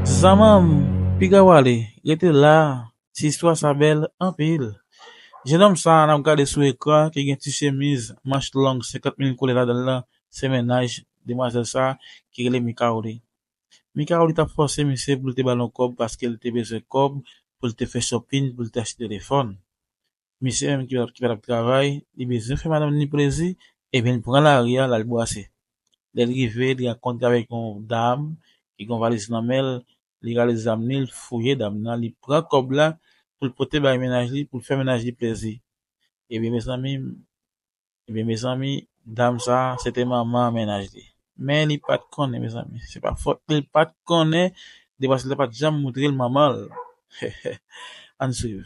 Zanmanm piga wale rete la. Ti istwa sa bèl anpil. Jenòm sa a n ap gade sou ekran an ki gen ti chemiz manch long 50 mil koulè ladan l lan se mennaj demwazèl sa a ki rele Mikaoli. Mikaoli t ap fòse misye pou l te ba l yon kòb paske l te bezwen kòb pou l te fè chòpin pou l te achte telefòn. Misye menm ki pa t ap travay, li bezwen fè madanm ni plezi ebyen l pran lari a l al bwase. Lè l rive li rankontre avèk yon dam ki gen yon valiz nan men l li rale zam li l fouye dam nan li pran kòb la pou l pote bay mennaj li pou l fè mennaj li plezi ebyen mezanmi ebyen mezanmi dam sa se te manman mennaj li men li pat konnen mezanmi se pa fòt li l pat konnen depaske li pat janm moutre l manman l heheh ann swiv.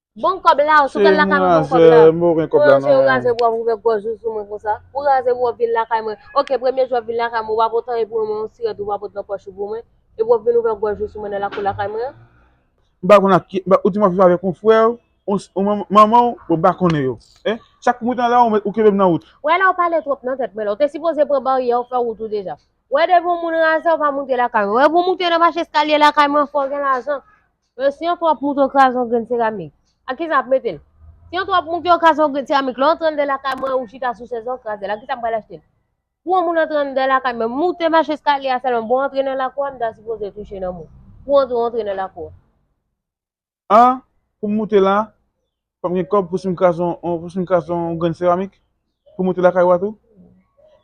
Bon kob la, ou sou kal lakay mwen bon kob la. Mwen pa gen kob la non. Mwen raze pou wap ouvè gòj ou sou mwen konsa. Ou raze pou wap vin lakay mwen. Ok premye jou wap vin lakay mwen ou pa pot anyen pou mwen men yon sirèt ou pa pot nan pòch ou pou mwen. Epi wap vin ouvè gòj ou sou mwen nan lakou lakay mwen an. M pa konn ak ki, ou di map viv avèk yon frè ou, yon manman ou, bon m pa konnen yo. Chak kou mwen ta la ou kenbe m nan wout. Wè la ou pale twòp nan tèt mwen la. Ou te sipoze pran baryè ou fè wout ou deja. Wè depi yon moun raze ou pa moute lakay mwen. Wè pou moute nan mach eskalye lakay mwen fò gen lajan. Yo si yon twòp moute yo kraze yon grenn seramik ak kisa ap metel? Si yon twòp moute yo kraze yon grenn seramik lè w antre anndan lakay mwen ou chita sou chèz lan w krazel ak kisa m pral achtel? Pou yon moun antre anndan lakay mwen moute mach eskalye a sèlman bon antre nan lakou a m ta sipoze touche nan mou pou antre w antre nan lakou a. An pou m moute la fòm gen kòb pou si m kraze yon pou si m kraze yon grenn seramik pou moute lakay ou a tou?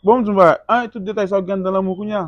Bon m di w yon bagay an e tout detay sa yo gen anndan lanmou kounya?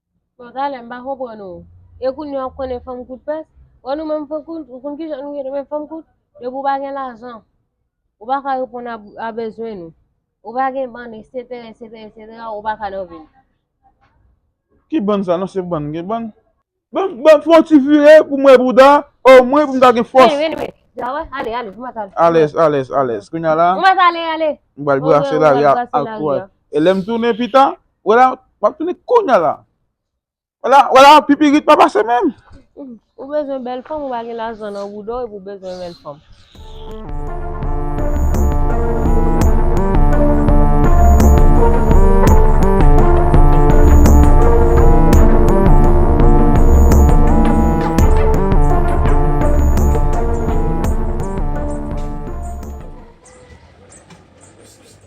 Bon talè m pa konprann ou. E kounye a ou konnen fanm kout pès? Bon nou menm fanm kout, ou konn kijan nou ye nou menm fanm kout? Depi ou pa gen lajan, ou pa ka reponn a bezwen nou. Ou pa gen bann eksetera eksetera eksetera ou pa ka nan vi m. Ki bann sa non se bann gen bann. Banm fon ti vire pou m wè bouda o mwen pou m ta gen fòs. Vini vini vini la wè ale ale nou mèt ale. Alèz alèz alèz kounye a la. Nou mèt ale ale. M pral brase lari a ak twal. E lè m tounen pita. Wè la, m ap tounen kounya la. Wè la, wè la, pipirit pa pase menm. Ou bezwen bèl fanm, ou pa gen lajan nan bouda w epi w bezwen bèl fanm.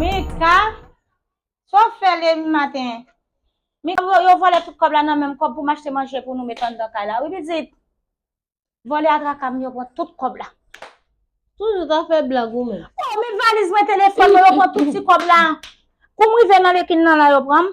Mika, sa w fè lè maten? Mika, yo vòlè tout kòb la nan menm, kòb pou m achte manje pou nou met anndan kay la wi pitit. Vòlè a traka m, yo pran tout kòb la. Toujou ta fè blag ou menm. Oh men valiz mwen, telefòn mwen, yo pran tout ti kòb la. Kou m rive nan lekin nan la yo pran m.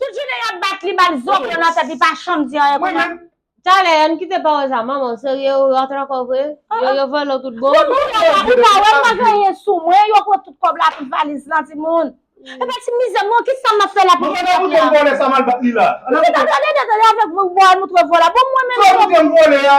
Tout jounen yap bat li bal zoken nan tèt li pa chanm di anyen kounya. Talè ann kite pawòl sa manman serye ou rantre ankò vre yo yo vòlò tout bon. Fout ou la ou pa wèm pa gen anyen sou mwen yo pran tout kòb la tout valiz lan timoun. Epa ti mizè mwen kisa map fè la pou mwen sot la. Mwen pa gen bouton vòlè sa mal bat li la. Mwen gen ta tande de tande avèk vòlè moutre vòlè bon mwen menm. Sòl ou gen vòlè a.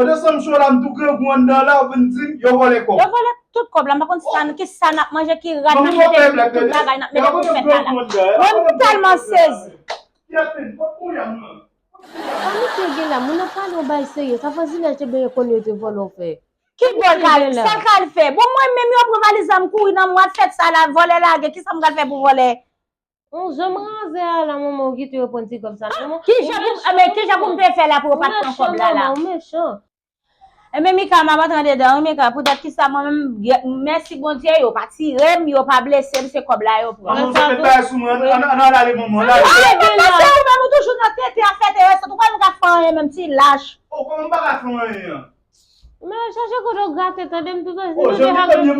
Pandan sam cho la m tou grangou anndan la ou vin dim yo vòlè kòb. Yo vòlè tout kòb la m pa konn sa ki sa nap manje ki rad nap mete tout bagay nap mete pou fèt la la. Mwen m tèlman sezi. Kiyate pot kou yam nan. Sa misye gen la moun ap pale yon bagay serye sa vwazinaj te benyen konnen yo te vòlè ou fè. Ki vòl kal fè sa kal fè bon mwen menm yo pran valiz la m kouri nan mwen fèt sa la vòlè lage ki sa m pral fè pou vòlè Humm janm razè a la manman ou kite yo pran ti kob sa manman. Kijan pou m men kijan pou m te fè la pou yo pat pran kob la la. Ou mechan manman ou mechan. Ebyen Mika map antre andedan wi Mika pou dat kisa mwen menm mèsi Bondye yo pa tirem yo pa blesem se kob la yo pran. Manman fè met bagay sou mwen an an ale manman an ale. Ay papa se ou menm ou toujou nan tenten afè Terèse ou pa menm ka fè anyen menm ti lach. Oh koman m paka fè anyen an. Men al chache kote ou grate tande m toutan si nou 2 ap gen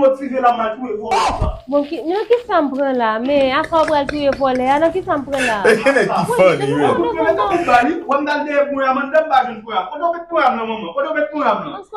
Bon ki nan kisa m pran la men asa ou pral touye vòlè a nan kisa m pran la a Ansko.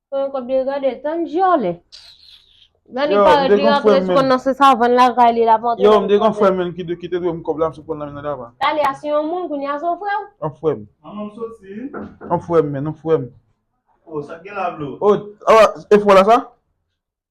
Mwen kont byen gade l tann dyòlè. Lè li parèt li rantre sou konn nan se savann lakay li lap antre. Yo m te gen yon frè menn ki te dwe m kòb la msot pran l nan men nan dava. Dali a se yon moun kounye a se yon frè w? Yon frè m. Manman m soti. Yon frè m menn yon frè m. Oh sa gen la blo. Oh ah efò la sa?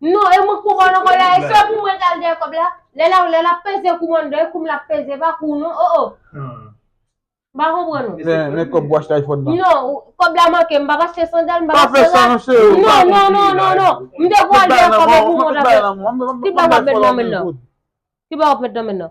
Non e mwen kouman nan kola e se pou mwen kal deye kob la lè la lè la peze kouman deye koum la peze pa kou non o o ba kou pran nou men kob wach tay fon nan non kob la manke m pa pa che san dal m pa pa che san nan che ou non non non non non m te kou al deye kob la pou mwen ta fè ki pa wap met nan men nan ki pa wap met nan men nan.